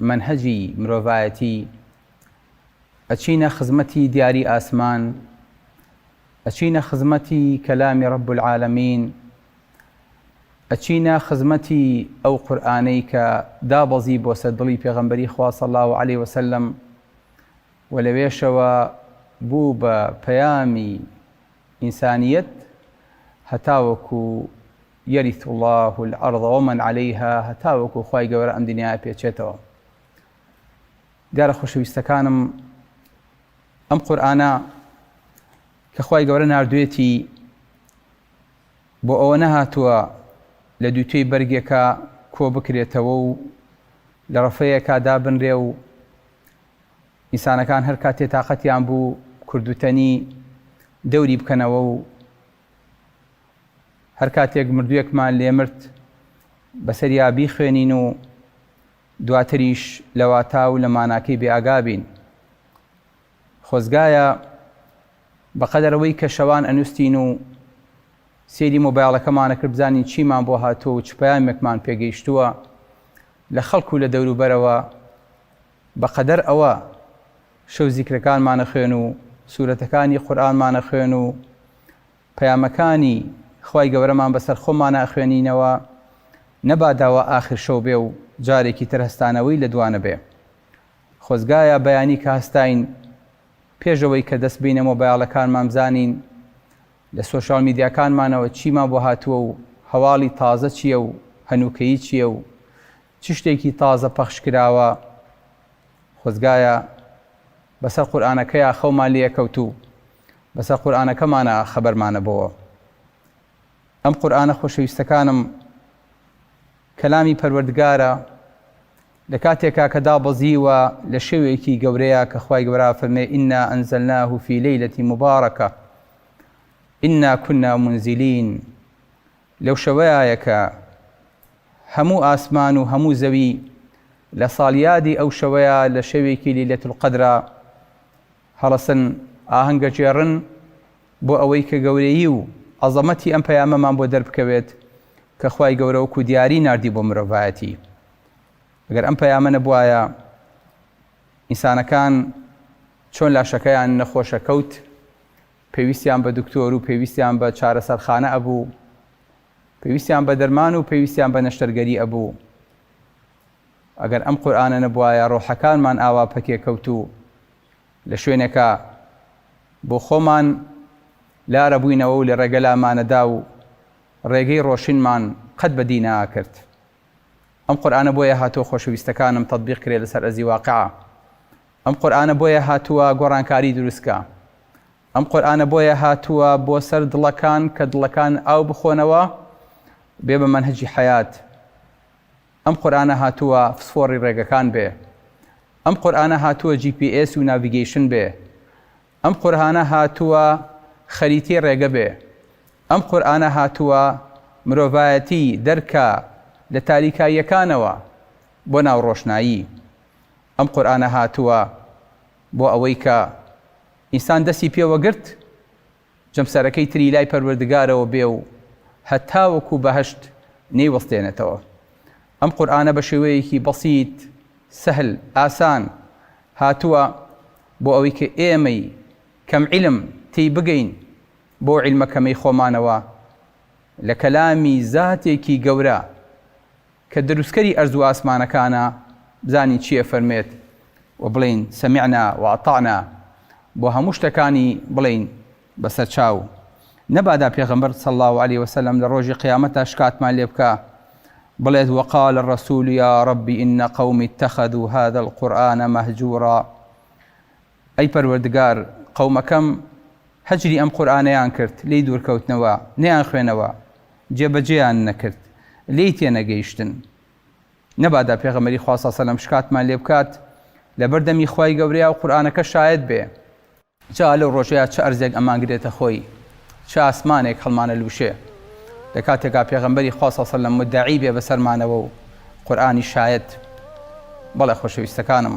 مەنهەجی مرۆڤایەتی ئەچینە خزمەتی دیاری ئاسمان ئەچینە خزمەتی کەلامی رب العالمین ئەچینە خزمەتی ئەو قورئانەی کە دابەزی بۆسە دڵی پێغەمبەری خوا صلی اللە علیە وسلم و لەوێشەوە بوو بە پەیامی ئینسانیەت هەتاوەکو یریث اللە الارض ومن علیها هەتاوەکو خوای گەورە ئەم دنیا ئەپێچێتەوە دیارە خۆشەویستەکانم ئەم قورآانە کە خوای گەورە نردوێتی بۆ ئەوە نەهاتووە لە دووتێی بەرگێکە کۆ بکرێتەوە و لە ڕفەیەکە دابنرێ و ئینسانەکان هەر کاتێ تااقەتیان بوو کردوتەنی دەوری بکەنەوە و هەر کاتێک مردووێکمان لێ مرد بەسەریا بیخوێنین و دواتریش لە واتا و لە ماناکەی بێئاگا بین. خۆزگایە بەقەدەر ئەوەی کە شەوان ئەنووستین و سەیری مۆبایڵەکەمان ئەکرد بزانین چیمان بۆ هاتووە و چ پەیامێکمان پێگەیشتووە لە خەڵک و لە دەوروبەرەوە، بە قەدەر ئەوە شەو زیکرەکانمان ئەخوێن و سورەتەکانی قورئانمان ئەخوێن و پەیامەکانی خوای گەورەمان بەسەر خۆمانا ئەخوێنینەوە نەبادا وا ئاخر شەو بێ و جارێکی تر هەستانەوەی لە دوا نەبێ خۆزگایە بەیانی کە هەستاین پێش ئەوەی کە دەست بینە مۆبایڵەکانمان بزانین لە سۆشیال میدیاکانمانەوە چیمان بۆ هاتووە و هەواڵی تازە چییە و هەنووکەیی چییە و چ شتێکی تازە پەخش کراوە خۆزگایە بەسەر قورئانەکەیا خەومان لێ ئەکەوت و بەسەر قورئانەکەمانا خەبەرمان ئەبۆوە ئەم قورئانە خۆشەویستەکانم کەلامی پەروەردگارە لە کاتێکا کە دابەزیوە لە شەوێکی گەورەیە کە خوای گەورە فەرمێ ئینا ئەنزەلناه فی لەیلەتی مبارەکە ئینا کنا منزلین لەو شەوەیایە کە هەموو ئاسمان و هەموو زەوی لە ساڵیادی ئەو شەوەیە لە شەوێکی لیلەت القەدرا هەڵەسن ئاهەنگە جێڕن بۆ ئەوەی کە گەورەیی و عەزەمەتی ئەم پەیامەمان بۆ دەربکەوێت کە خوای گەورە وەکو دیاری ناردی بۆ مرۆڤایەتی ئەگەر ئەم پەیامە نەبوایە ئینسانەکان چۆن لاشەکەیان نەخۆشە کەوت پێویستیان بە دکتۆر و پێویستیان بە چارەسەرخانە ئەبوو، پێویستیان بە دەرمان و پێویستیان بە نەشتەرگەری ئەبوو. ئەگەر ئەم قورئانە نەبوایە ڕۆحەکانمان ئاوا پەکێکەوت و لە شوێنێکا بۆ خۆمان لار ئەبووینەوە و لە ڕێگە لامانەدا و ڕێگەی ڕۆشنمان قەت بە دی نەئاکرد. ئەم قورئانە بۆیە هاتووە خۆشەویستەکانم تەتبیق کرێ لەسەر ئەرزی واقعا. ئەم قورئانە بۆیە هاتووە گۆڕانکاری دروستکا ئەم قورئانە بۆیە هاتووە بۆ سەر دڵەکان کە دڵەکان ئاو بخۆنەوە بێ بە مەنهەجی حەیات ئەم قورئانە هاتووە فسفۆڕی ڕێگەکان بێ ئەم قورئانە هاتووە جی پی ئێس و ناڤیگەیشن بێ ئەم قورئانە هاتووە خەریتی ڕێگە بێ ئەم قورئانە هاتووە مرۆڤایەتی دەرکا لە تاریکاییەکانەوە بۆ ناو ڕۆشنایی ئەم قورئانە هاتووە بۆ ئەوەی کە ئینسان دەستی پێوە گرت جەمسەرەکەی تری لای پەروەردگارەوە بێ و هەتاوەکو بەهەشت نەیوەستێنێتەوە. ئەم قورئانە بە شێوەیەکی بەسیت، سەهل، ئاسان، هاتووە بۆ ئەوەی کە ئێمەی کەم عیلم تێی بگەین بەو عیلمە کەمەی خۆمانەوە لە کەلامی زاتێکی گەورە، کە دروستکەری ئەرز و ئاسمانەکانە بزانین چی ئەفەرموێت و بڵێین سمعنا واطعنا بۆ هەموو شتەکانی بڵێین بەسەرچاو نەبادا پێغەمبەر صلی اللە علیە وسلم لە ڕۆژی قیامەتا شکاتمان لێ بکا بڵێت وقال الرسول یا رب ان قومی اتخذوا هذا القرآن مهجورا ئەی پەروەردگار قەومەکەم هەجری ئەم قورئانەیان کرد لێی دوورکەوتنەوە نەیانخوێنەوە جێبەجێیان نەکرد لێی تێنەگەیشتن نەبادا پێغەمبەری خوا صلی سەلەم شکاتمان لێ بکات لەبەر دەمی خوای گەورەیا و قورئانەکە شایەت بێ جا لەو ڕۆژەیا چ ئەرزێک ئەمان گرێتە خۆی چ ئاسمانێک هەڵمانە لوشێ لە کاتێکا پێغەمبەری خوا صلی سەلەم مدعی بێ بەسەرمانەوە و قورئانی شایەت بەڵێ خۆشەویستەکانم.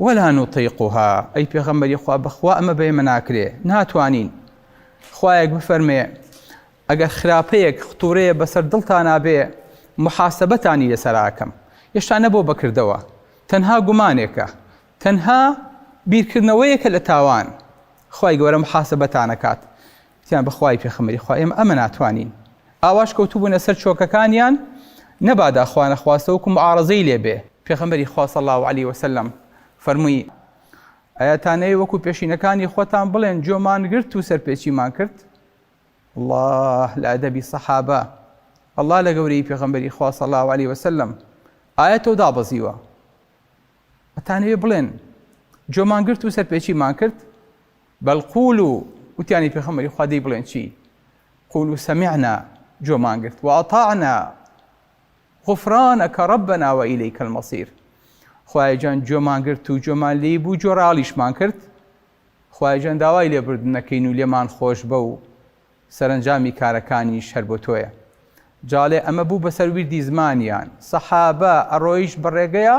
ولا نطیقها ئەی پێغەمبەری خوا بەخوا ئەمە بە ئێمە ناکرێ ناتوانین خوایەک بفەرمێ ئەگەر خراپەیەک ختورەیە بەسەر دڵتا نابێ محاسبەتانی لەسەراکەم هێشتا نەبۆ بەکردەوە تەنها گومانێکە تەنها بیرکردنەوەیەکە لە تاوان خی گەورە محاسبەتانەکات وتیان بە خوای پێخەمبەری خوا ئێمە ئەمە ناتوانین ئاواش کەوتوبونە سەر چۆکەکانیان نەبادا خوا نەخواستە وەکو معارەزەی لێ بێ. پێخەمبەری خوا صلی اللە علیە وسلم فەرمووی، ئایاتانەوێ وەکو پێشینەکانی خۆتان بڵێن جۆمان گرت و سەرپێچیمان کرد؟ اللە لە ئەدەبی صەحابە اللە لە گەورەیی پێخەمبەری خوا صلی اللە علیە وسلم ئایەتەو دابەزیوە ئەتانەوێ بڵێن جۆمان گرت و سەرپێچیمان کرد؟ بەڵ قولو، وتیان ای پێخەمبەری خوا دەی بڵێن چی؟ قولو سمعنا، گوێمان گرت، واطعنا، غفرانک ربنا والیک المصیر، خوایە گیان گوێمان گرت و گوێمان لێی بوو گوێڕالیشمان کرد، خوایە گیان داوای لێبوردن ئەکەین و لێمان خۆشبە و سەرەنجامی کارەکانیش هەر بۆ تۆیە. جاڵێ ئەمە بوو بەسەر ویردی زمانیان، سەحابە، ئەڕۆیشت بەڕێگەیا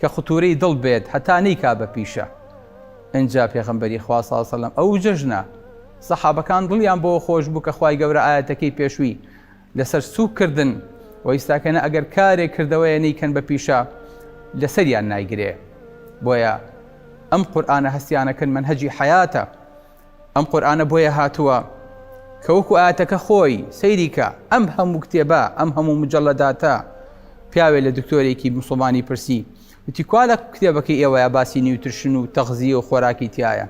کە قتورەی دڵ بێت هەتا نەیکا بە پیشە ئنجا پێغەمبەری خوا صلی سلم ئەو جەژنە سەحابەکان دڵیان بەوە خۆش بوو کە خوای گەورە ئایەتەکەی پێشوی لەسەر سوک کردن و ئیستاکەنە ئەگەر کارێک کردەوەیە نەیکەن بە پیشە لەسەریان نایگرێ بۆیە ئەم قورئانە هەستیانەکەن منهەجی حەیاتە ئەم قورئانە بۆیە هاتووە کە وەکو ئاتەکە خۆی سەیریکە ئەم هەموو کتێبە ئەم هەموو مجللەداتە پیاوێ لە دکتۆرێکی مسلمانی پرسی وتی کوا لە کتێبەکەی ئێوەیە باسی نیوترشن و تەغزیە و خۆراکی تایە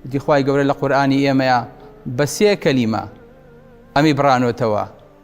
وتی خی گەورە لە قورآانی ئێمەیە بە سێ کەلیمە ئەمی بڕانۆتەوە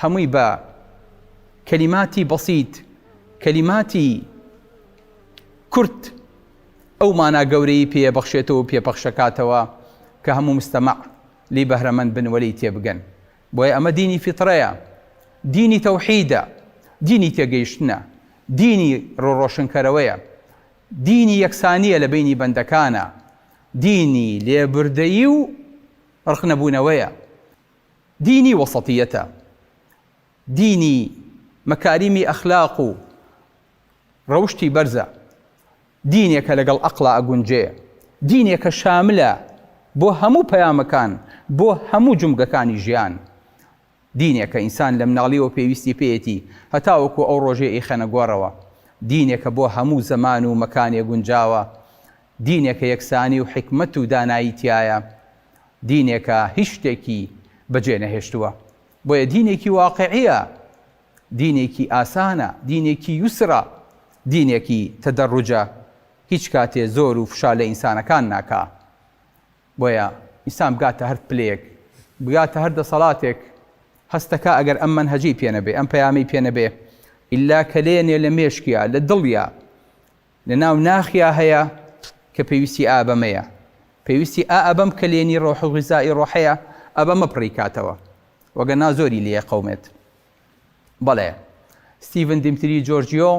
هەمووی بە کەلیماتی بەسیت، کەلیماتی کورت ئەو مانا گەورەی پێ بەخشێتەوە و پێ پەخشەکاتەوە کە هەموو مستەمەع لێی بەهرەمەند بن و لێی تێبگەن. بۆیە ئەمە دینی فیتڕەیە، دینی تەوحیدە، دینی تێگەیشتنە، دینی ڕوو ڕۆشنکەرەوەیە، دینی یەکسانییە لە بەینی بەندەکانا، دینی لێبوردەیی و ڕقنەبوونەوەیە. دینی وەسەتیەتە، دینی مەکاریمی ئەخلاق و ڕەوشتی بەرزە، دینێکە لەگەڵ ئەقڵا ئەگونجێ، دینێکە شاملە بۆ هەموو پەیامەکان، بۆ هەموو جومگەکانی ژیان، دینێکە ئینسان لەمناڵیەوە پێویستی پێیەتی هەتاوەکو ئەو ڕۆژەی ئەیخەنە گۆڕەوە، دینێکە بۆ هەموو زەمان و مەکانێ گونجاوە، دینێکە یەکسانی و حیکمەت و دانایی تیایە، دینێکە هیچ شتێکی بەجێ نەهێشتووە، بۆیە دینێکی واقعییە، دینێکی ئاسانە، دینێکی یوسرە، دینێکی تەدەڕوجە، هیچ کاتێ زۆر و فشار لە ئینسانەکان ناکا، بۆیە ئینسان بگاتە هەر پلەیەک، بگاتە هەر دەسەڵاتێک هەست دەکا ئەگەر ئەم مەنهەجەی پێ نەبێ، ئەم پەیامەی پێ نەبێ، ئیلا کەلێنێ لە مێشکیا، لە دڵیا، لە ناو ناخیا هەیە کە پێویستی ئا بەمەیە، پێویستی ئا ئەبەم کەلێنی ڕۆح و غیزا ی ڕۆحەیە ئەبەمە پڕی کاتەوە وەگەرنا زۆری لێ قەومێت. بەڵێ ستیڤن دیمتری جۆرجیۆ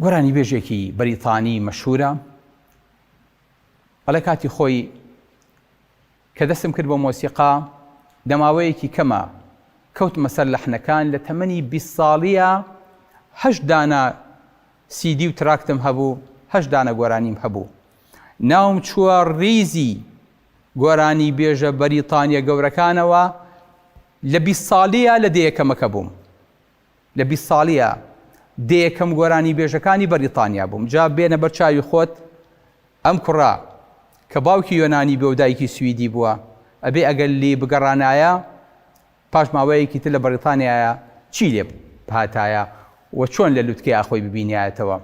گۆرانیبێژێکی بەریتانی مەشهوورە ئەڵێ کاتی خۆی کە دەستم کرد بە مۆسیقا دە ماوەیەکی کەمە کەوتمە سەر لەحنەکان، لە تەمەنی بیست ساڵییا هەشت دانە سی دی و تراکتم هەبوو، هەشت دانە گۆرانیم هەبوو. ناوم چووە ڕیزی گۆرانیبێژە بەریتانییە گەورەکانەوە، لە بیست ساڵییا لە دەیەکەمەکە بووم. لە بیست ساڵییا دێ یەکەم گۆرانی بێژەکانی بەریتانیا بووم جا بێنە بەر چاوی خۆت ئەم کوڕە کە باوکی یۆنانی بێ و دایکی سویدی بووە ئەبێ ئەگەر لی بگەڕانایە پاش ماوەیەکی تر لە بەریتانیایە چی لێ بهاتایە و چۆن لە لوتکەیا خۆی ببینیایەتەوە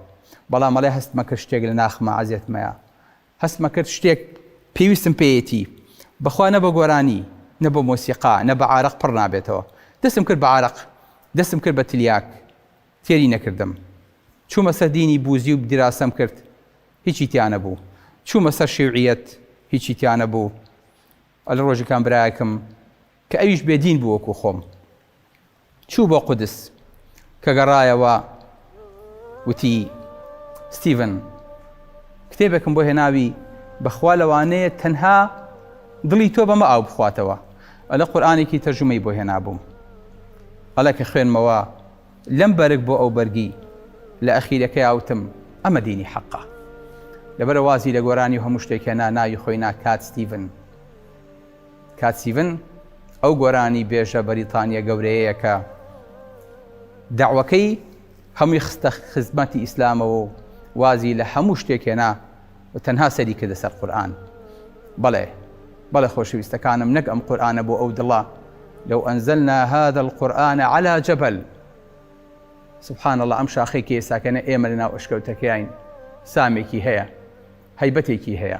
بەڵام ئەڵێ هەستمە کرد شتێک لە ناخمە عەزێتمەیە هەستمە کرد شتێک پێویستم پێیەتی، بەخوا نە بە گۆرانی، نە بە مۆسیقا، نە بە عارەق پڕ نابێتەوە. دەستم کرد بە عارەق، دەستم کرد بە تلیاک، تێری نەکردم. چوومە سەر دینی بوزی و دیراسەم کرد، هیچی تیا نەبوو. چوومە سەر شیوعیەت، هیچی تیا نەبوو. ئەلە ڕۆژیکان برایەکم، کە ئەویش بێ دین بوو وەکوو خۆم. چوو بۆ قودس، کە گەڕایەوە وتی، ستیڤن، کتێبێکم بۆ هێناوی، بەخوا لەوانەیە تەنها دڵی تۆ بەمە ئاو بخواتەوە، ئەڵێ قورئانێکی تەرجومەی بۆ هێنابووم، ئەڵێ کە خوێنمەوە لەم بەرگ بۆ ئەو بەرگی، لە ئەخیرەکەیا وتم، ئەمە دینی حەقە. لەبەرئەوە وازی لە گۆرانی و هەموو شتێک هێنا، ناوی خۆی نا کات ستیڤن. کات سیڤن ئەو گۆرانی بێژە بەریتانیە گەورەیەیە کە دەعوەکەی هەمووی خستە خزمەتی ئیسلامەوە و وازی لە هەموو شتێک هێنا و تەنها سەری کردە سەر قورئان بەڵێ بەڵێ خۆشەویستەکانم نەک ئەم قورآانە بۆ ئەو دڵە لەو ئەنزەلنا هذا القورآن على جبل سبحان الله ئەم شاخی کێساکەنە ئێمە لە ناو ئەشکەوتەکەیان سامێکی هەیە هەیبەتێکی هەیە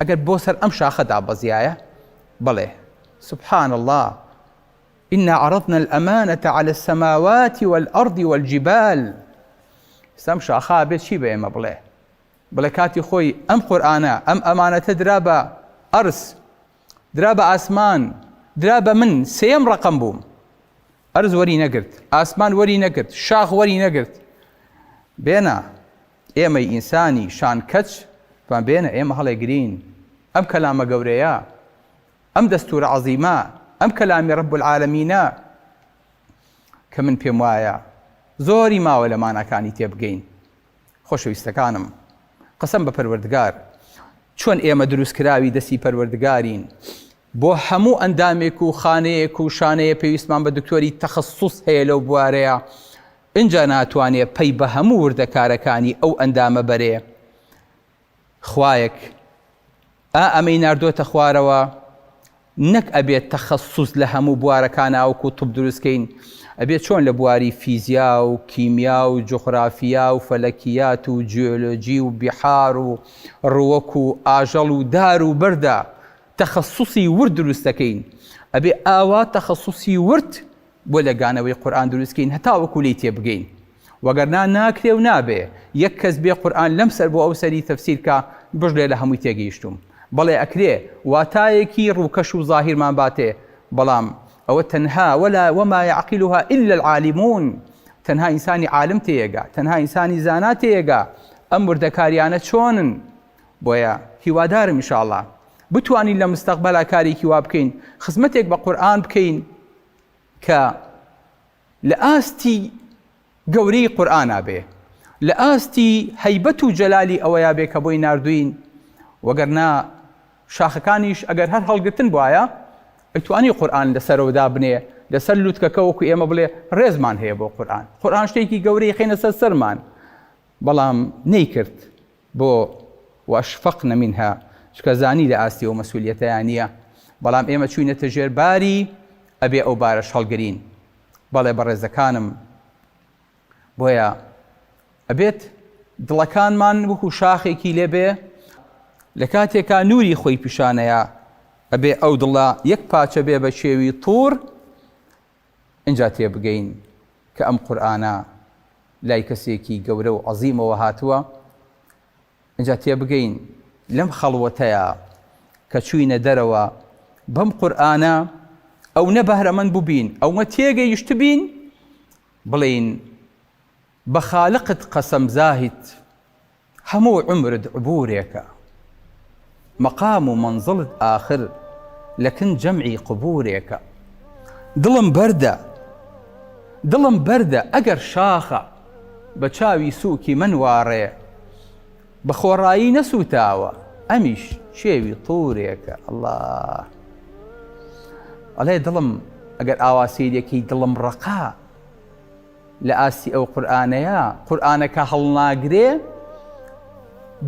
ئەگەر بۆ سەر ئەم شاخە دابەزیایە بەڵێ سبحان اللە انا عرضنا الامانە علی السماوات والارض والجبال سەم شاخا بێت چی بە ئێمە بڵێ بڵێ کاتی خۆی ئەم قورآانە ئەم ئەمانەتە درا بە ئەرس درا بە ئاسمان درا بە من سێم ڕقم بووم ئەرز وەری نەگرت ئاسمان وەری نەگرت شاخ وەری نەگرت بێنا ئێمەی ئینسانی شان کەچ فام بێنە ئێمە هەڵێ گرین ئەم کەلامە گەورەیە ئەم دەستورە عەزیمە ئەم کەلامی رب العالمینە کە من پێم وایە زۆری ماوە لە ماناکانی تێبگەین خۆشەویستەکانم قسم بە پەروەردگار چۆن ئێمە دروستکراوی دەستی پەروەردگارین بۆ هەموو ئەندامێک و خانەیەک و شانەیە پێویستمان بە دکتۆری تەخەسوس هەیە لەو بوارەیە ئینجا ناتوانێ پەی بە هەموو وردەکارەکانی ئەو ئەندامە بەرێ خوایەک ئا ئەمەی ناردۆتە خوارەوە نەک ئەبێت تەخەسوس لە هەموو بوارەکاناوک و طب دروستکەین ئەبێت چۆن لە بواری فیزیا و کیمیا و جوغرافیا و فەلەکیات و جیۆلۆجی و بیحار و ڕووەک و ئاژەڵ و دار و بەردا تەخەسوسی ورد دروست دەکەین ئەبێ ئاوا تەخەسوسی ورد بۆ لێکدانەوەی قورئان دروست کەین هەتاوەکو لێی تێبگەین وەگەرنا ناکرێ و نابێ یەک کەس بێ قورئان لەم سەر بۆ ئەو سەری تەفسیر کا بژلێ لە هەمووی تێگەیشتووم بەڵێ ئەکرێ واتایەکی ڕووکەش و زاهیرمان باتێ بەڵام ئەوە تەنها ولا وما يعقلها الا العالمون تەنها ئینسانی عالم تێیەگا تەنها ئینسانی زانا تێیەگا ئەم وردەکاریانە چۆنن بۆیە هیوادارم ان شاء اللە بتوانین لە مستەقبەلا کارێکی وا بکەین خزمەتێک بە قورئان بکەین کە لە ئاستی گەورەی قورئانا بێ لە ئاستی هەیبەت و جەلالی ئەوەیە بێ کە بۆی ناردوین وەگەرنا شاخەکانیش ئەگەر هەر هەڵگرتن بواە ئەتوانی قورآن لەسەرەوە دابنێ لەسەر لوتکەکە وەکو ئێمە بڵێ ڕێزمان هەیە بۆ قورآن قورآن شتێکی گەورەی خێنە سەر سەرمان بەڵام نەیکرد بۆ؟ واشفقن منها چونکە زانی لە ئاستی ئەو مەسئولیەتەیا نیە بەڵام ئێمە چوینەتە ژێر باری ئەبێ ئەو بارەش هەڵگرین بەڵێ بەڕێزەکانم بۆیە ئەبێت دڵەکانمان وەکو شاخێکی لێ بێ لە کاتێکا نوری خۆی پیشانەیە ئەبێ ئەو دڵە یەک پاچە بێ بە شێوی طور ئینجا تێبگەین کە ئەم قورئانە لای کەسێکی گەورە و عەزیمەوە هاتووە، ئینجا تێبگەین لەم خەڵوەتەیا کە چووینە دەرەوە بەم قورئانە ئەونە بەهرەمەند بووبین، ئەونە تێگەیشتبین بڵێین بە خالقت قەسەم زاهید هەموو عومرت عبورێکە مەقام و مەنزڵت ئاخر لە کن جەمعی قبورێکە دڵم بەردە دڵم بەردە ئەگەر شاخە بە چاوی سوکی من واڕێ بە خۆڕایی نەسوتاوە ئەمیش چێوی طورێکە ئەڵا ئەڵێ دڵم ئەگەر ئاوا سیرێکی دڵم ڕقا لە ئاستی ئەو قورئانەیا قورئانە کە هەڵناگرێ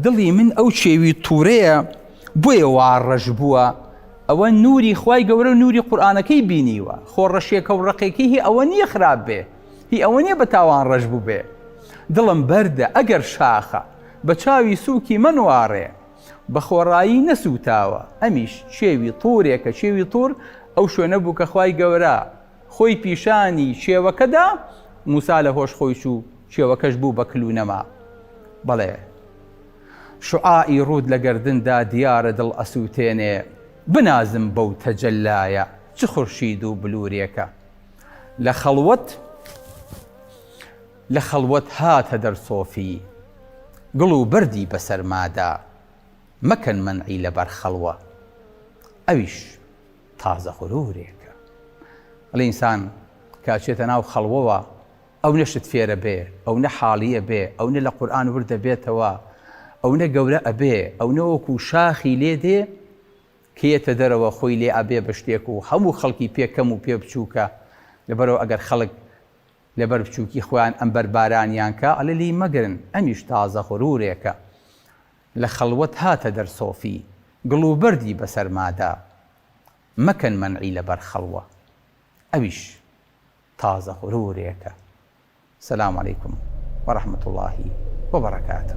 دڵی من ئەو چێوی تووڕەیە بۆیە وا ڕەش بووە ئەوە نوری خی گەورە و نوری قورآانەکەی بینیوە خۆ ڕەشێکە و ڕقێکی هی ئەوە نییە خراپ بێ هی ئەوە نییە بە تاوان ڕەش بوو بێ دڵم بەردە ئەگەر شاخە بە چاوی سووکی منواڕێ بە خۆڕایی نەسووتاوە ئەمیش چێوی تورێکە چێوی تور ئەو شوێنە بوو کە خی گەورە خۆی پیشانی کێوەکە دا، موسا لە هۆش خۆی چوو، کێوەکەش بوو بە کل و نەما. بەڵێ شوعاعی ڕووت لە گەردن دا دیارە دڵ ئەسووتێنێ، بنازم بەو تەجەللایە چ خورشید و بلوورێکە. لە خەڵوەت لە خەڵوەت هاتە دەر سۆفی گڵ و بەردی بە سەرما دا، مەکەن مەنعی لە بەر خەڵوە. ئەویش. تازە غرورێکە ئەڵێ ئینسان کە ئەچێتە ناو خەڵوەوە ئەونە شت فێرە بێ ئەونە حاڵیە بێ ئەونە لە قورئان وردە بێتەوە ئەونە گەورە ئەبێ ئەونە وەکو شاخی لێ دێ کە یەتە دەرەوە خۆی لێ ئەبێ بە شتێک و هەموو خەڵکی پێ کەم و پێ بچووکە لەبەرەوە ئەگەر خەڵک لەبەر بچووکی خۆیان ئەم بەربارانیان کە ئەلە لی مەگرن ئەمیش تازە غرورێکە لە خەڵوەت هاتە دەر سۆفی. گڵ و بەردی بەسەرمادا. مەکەن مەنعی لە بەر خەڵوە. ئەویش تازە غرورێکە. سلام علیکم و رحمت اللە و برکاته.